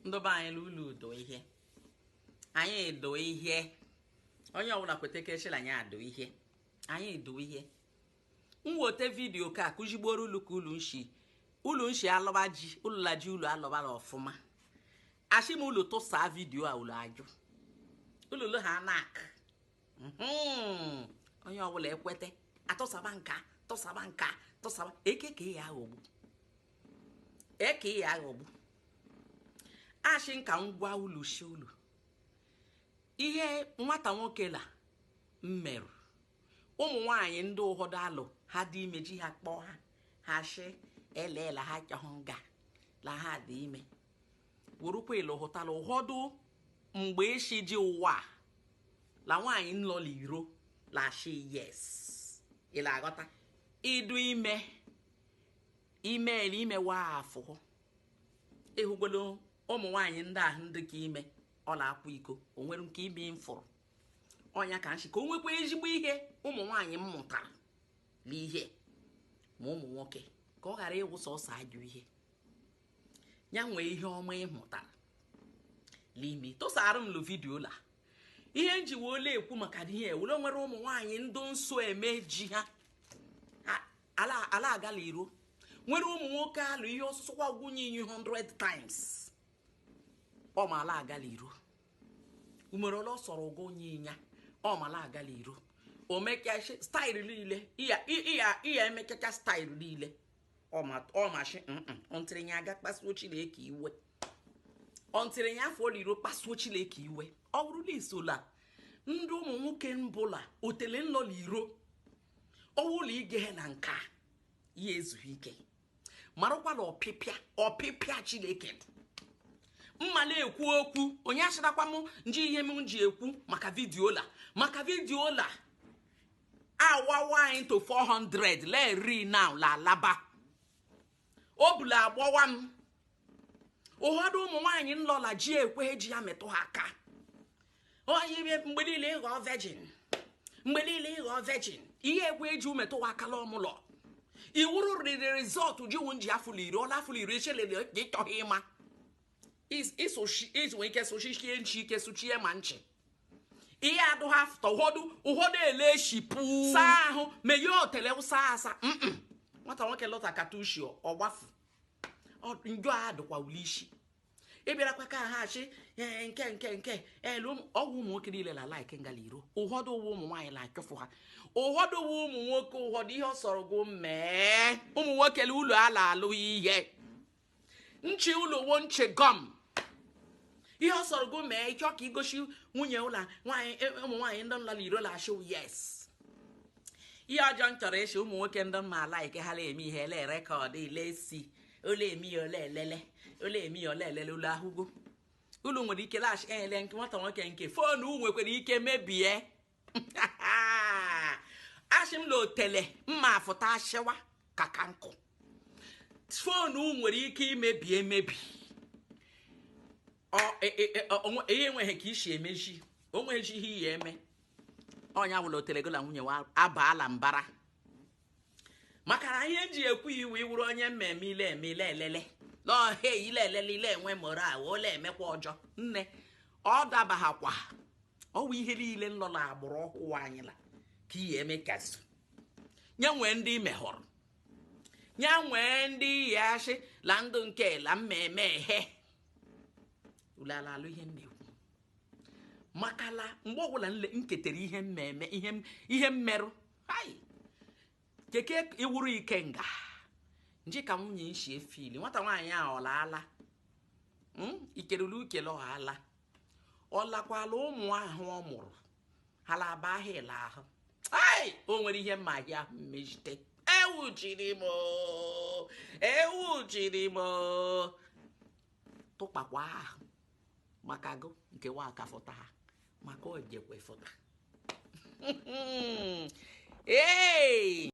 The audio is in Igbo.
ndụ ba anyị n'ụlọ udo ihe anyị edo ihe onye ọbụla kweta ka echela anyị adụ ihe anyị edo ihe m wote vidiyo ka akụzigboro ulu ka ulu nshi ulu nshi alọba ji ulu la ji ulu alọbala ọfụma ashị m ulu tụsa vidiyo a ulu ajụ ululu ha nak mhm. onye ọbụla ekweta atụsaba nka tụsaba nka tụsaba ekeke ya aghọgbu eke ya aghọgbu ashị nka ngwa ulu shi ulu ihe nwata nwoke la mmerụ ụmụ nwanyị ndị ụfọdụ alụ ha dị ime ji ha kpọọ ha ha shi elela ha chọhụ nga la ha dị ime wụrụkwa ilehụtala ụfọdụ mgbe eshi ji ụwa la nwaanyị nlọla iro la shi yes ịla aghọta ịdụ ime imeela imewa afọ ịhụgolo ụmụ nwaanyị ndị ahụ ndị ka ime ọla akwa iko o nwere nke ime mfụrụ ọnya ka nshi ka o nwekwa ezigbo ihe ụmụ nwaanyị mmụtara n'ihe ma ụmụ nwoke ka ọ ghara ịwụ sọsọ ajọ ihe ya nwee ihe ọma ịmụtara n'ime tụsara m lụ vidiyo la ihe njiwe ole ekwu maka ihe wụ la nwere ụmụ nwaanyị ndị nso eme ji ha ala agala iro nwere ụmụ nwoke alụ ihe ọsụsụ kwa gụ nye nya 100 times ọ ma ala agala iro umere ole ọ sọrọ gụ nye nya ọ ma ala agala iro o mekecha staịlụ niile iya iya iya emekecha staịlụ niile ọ ma ọ mashi ntịrị nya aga kpasuo chineke iwe ntịrị nya afụ iro kpasuo chineke iwe ọ wụrụ la isola ndị ụmụ nwoke mbụla otele nlọla iro ọwụla ige na nke ya ezughị ike marụkwa la ọpịpịa ọpịpịa chineke mma la ekwu okwu onye asịrakwa m nji ihe m ji ekwu maka vidiyo la maka vidiyo la awawa into 400 lee ri now la alaba o bula agbawa m ụfọdụ ụmụ nwaanyị nlọla ji ekwe ji ya metụ ha aka onye ime mgbe niile ịghọ virgin mgbe niile ịghọ virgin ihe ekwe eji umetụ ha aka la ọmụlọ iwuru riri rizọtụ jiwu nji afụlụ iri ọla afụlụ iri echelele gị chọghị ịma ịsụchi ike sụchichie nchi ike sụchie ma nchi ihe adụ ha fụta ụfọdụ ụfọdụ ele shipụ saa ahụ meye otele ụsa asa nwata nwoke lọta katushi ọgbafu njọ a dụkwa ule isi ị bịarakwa ka ha achị ee nke nke nke elu ọwụ ụmụ nwoke niile la like ngala iro ụfọdụ ụwa ụmụ nwaanyị la achọfụ ha ụfọdụ ụwa ụmụ nwoke ụfọdụ ihe ọ sọrọ gụ mee ụmụ nwoke la ụlọ ala alụ ihe nchi ụlọ wo nchi gọm ihe ọ sọrọ gụ mee ịchọ ka igosi nwunye ụlọ nwaanyị e, ụmụ nwaanyị ndị nlala iro la ashị yes ihe ọjọọ m chọrọ ịshị ụmụ nwoke ndị mma like ha la eme ihe ele record ilesi ole emi ya ole elele ole emi ya ole elele ụlọ ahụgo ụlọ nwere ike laghachi ele nke nwata nwoke nke foonu nwekwara ike mebie ashị m na otele m afụta ashịwa ka ka nkụ foonu nwere ike imebi emebi e, e, e, ihe enweghị ka i si emeji onweghị ihe iyi eme onye ọwụla otele gụ la nwunye wa abaala mbara makala ihe ji ekwu iwe ị wụrụ onye mmemme ile eme ile elele n'ọhịa ile elele ile enwe moral ole emekwa ọjọ nne ọ dabaghakwa ọwụ ihe niile nọ na agbụrụ ọhụụ anyị la ka ihe eme kasị nye nwee ndị mehọrọ nye nwee ndị ya ashị la ndụ nke la mmemme ehe ulu la alụ ihe m na-ekwu makala mgbe ọbụla nketere ihe mmemme ihe mmerụ hai keke ị wụrụ ike nga nji ka nwunye nshi efili nwata nwaanyị a ọlaala hmm? ikelele ukele ọhala ọ lakwala ụmụ ahụ ọ mụrụ ha la aba ahụ ele ahụ ai o nwere ihe mma ahịa ahụ mmejite ewu jiri m ewu jiri m tụkpakwa ahụ maka gụ nke wa akafọta ha maka ojekwa ịfụta ee